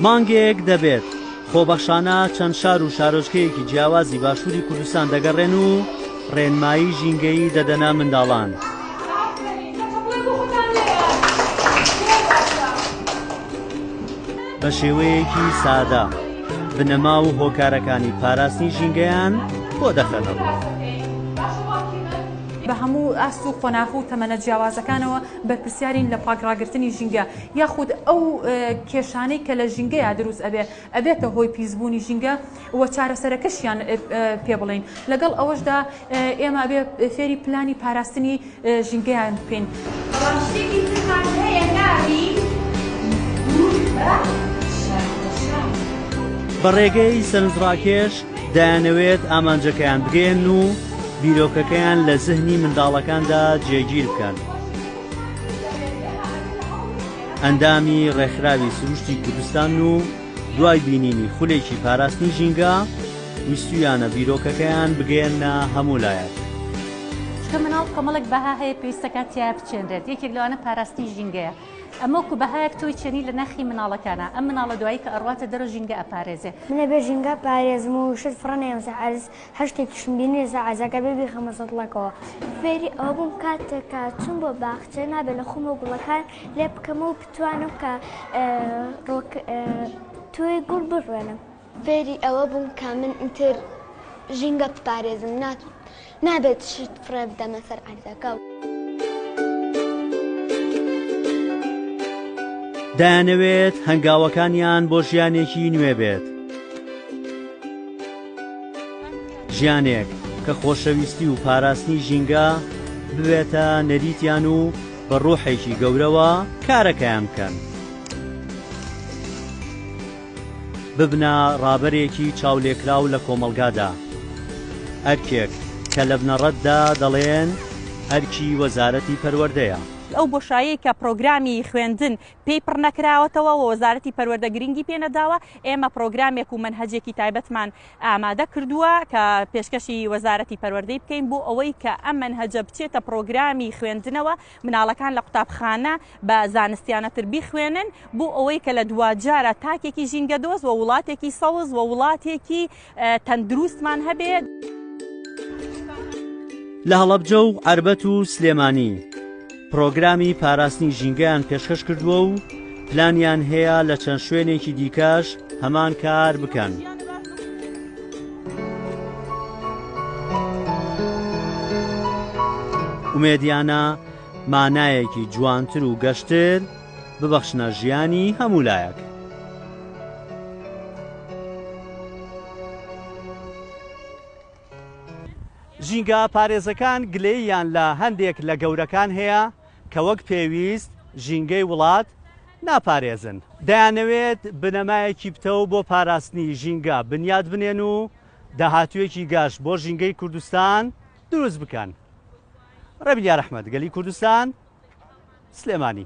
مانگێک دەبێت خۆبەخشانە چەند شار و شارۆچکەیەکی جیاوازی باشووری کوردستان دەگەڕێن و ڕێنمایی ژینگەیی دەدەنە منداڵان. بە شێوەیەکی سادە بنەما و هۆکارەکانی پاراستنی ژینگەیان بۆ دەخەنە ڕوو. بە هەموو ئاست و قۆناغ و تەمەنە جیاوازەکانەوە بەرپرسیارین لە پاک ڕاگرتنی ژینگە یاخود ئەو کێشانەی کە لە ژینگەیا دروست ئەبێ ئەبێتە هۆی پیس بوونی ژینگە، و چارەسەرەکەشیان پێ بڵێین، لەگەڵ ئەوەشدا ئێمە ئەبێ فێری پلانی پاراستنی ژینگەیان بکەین. بەڵام شتێکی ترمان هەیە ناوی دوور بە شاخەشان. بە ڕێگەی سەرنجڕاکێش دەیانەوێت ئامانجەکەیان بگەیەنن و بیرۆکەکەیان لە زهنی منداڵەکاندا جێگیر بکەن. ئەندامی ڕێکخراوی سروشتی کوردستان و دوای بینینی خولێکی پاراستنی ژینگە، ویستوویانە بیرۆکەکەیان بگەیەننە هەموو لایەک. چونکە مناڵ کۆمەڵێک بەها هەیە پێویست دەکات تیا بچێنرێت، یەکێک لەوانە پاراستنی ژینگەیە، ئەمە وەکو بەهایەک تۆی چێنی لە ناخی مناڵەکانا، ئەم مناڵە دوایی کە ئەڕواتە دەرەوە ژینگە ئەپارێزێ. من ئەبێ ژینگە پارێزم و شت فڕنەیەم سەر عەرز، هەر شتێکیشم بینی لەسەر عەرزاک ئەبێ بیخەمە سەتڵەکەوە. فێری ئەوە بووم کاتێک کە چووم بۆ باخچە نابێ لە خۆمەوە گوڵەکان لێ بکەمەوە، توانم کە تۆی گوڵ بڕوێنم. فێری ئەوە بووم کە من ئیتر ژینگە بپارێزم نابێت شت فڕێ بدەمە سەر عەردەکە. دەیانەوێت هەنگاوەکانیان بۆ ژیانێکی نوێ بێت. ژیانێک کە خۆشەویستی و پاراستنی ژینگە ببێتە نەریتیان و بە ڕوحێکی گەورەوە کارەکەیان بکەن. ببنە ڕابەرێکی چاولێکراو لە کۆمەڵگادا. ئەرکێک کە لە بنەڕەتدا دەڵێن ئەرکی وەزارەتی پەروەردەیە. ئەو بۆشایەی کە پرۆگرامی خوێندن پێی پڕ نەکراوەتەوە و وەزارەتی پەروەردە گرنگی پێ نەداوە، ئێمە پرۆگرامێک و مەنهەجێکی تایبەتمان ئامادە کردووە کە پێشکەشی وەزارەتی پەروەردەی بکەین بۆ ئەوەی کە ئەم مەنهەجە بچێتە پڕۆگرامی خوێندنەوە مناڵەکان لە قوتابخانە بە زانستیانەتر بیخوێنن بۆ ئەوەی کە لە دواجارە تاکێکی ژینگە دۆست و وڵاتێکی سەوز و وڵاتێکی تەندروستمان هەبێ. لە هەڵەبجە و عەربەت و سلێمانی. پرۆگرامی پاراستنی ژینگەیان پێشکەش کردووە و پلانیان هەیە لە چەند شوێنێکی دیکەش هەمان کار بکەن. ئومێدیانە مانایەکی جوانتر و گەشتر ببەخشنە ژیانی هەموو لایەک. ژینگە پارێزەکان گلەییان لە هەندێک لە گەورەکان هەیە کە وەک پێویست ژینگەی وڵات ناپارێزن، دەیانەوێت بنەمایەکی پتەو بۆ پاراستنی ژینگە بنیات بنێن و داهاتوویەکی گەش بۆ ژینگەی کوردستان دروست بکەن. ڕێبین یاراحمەد، گەلی کوردستان. سلێمانی.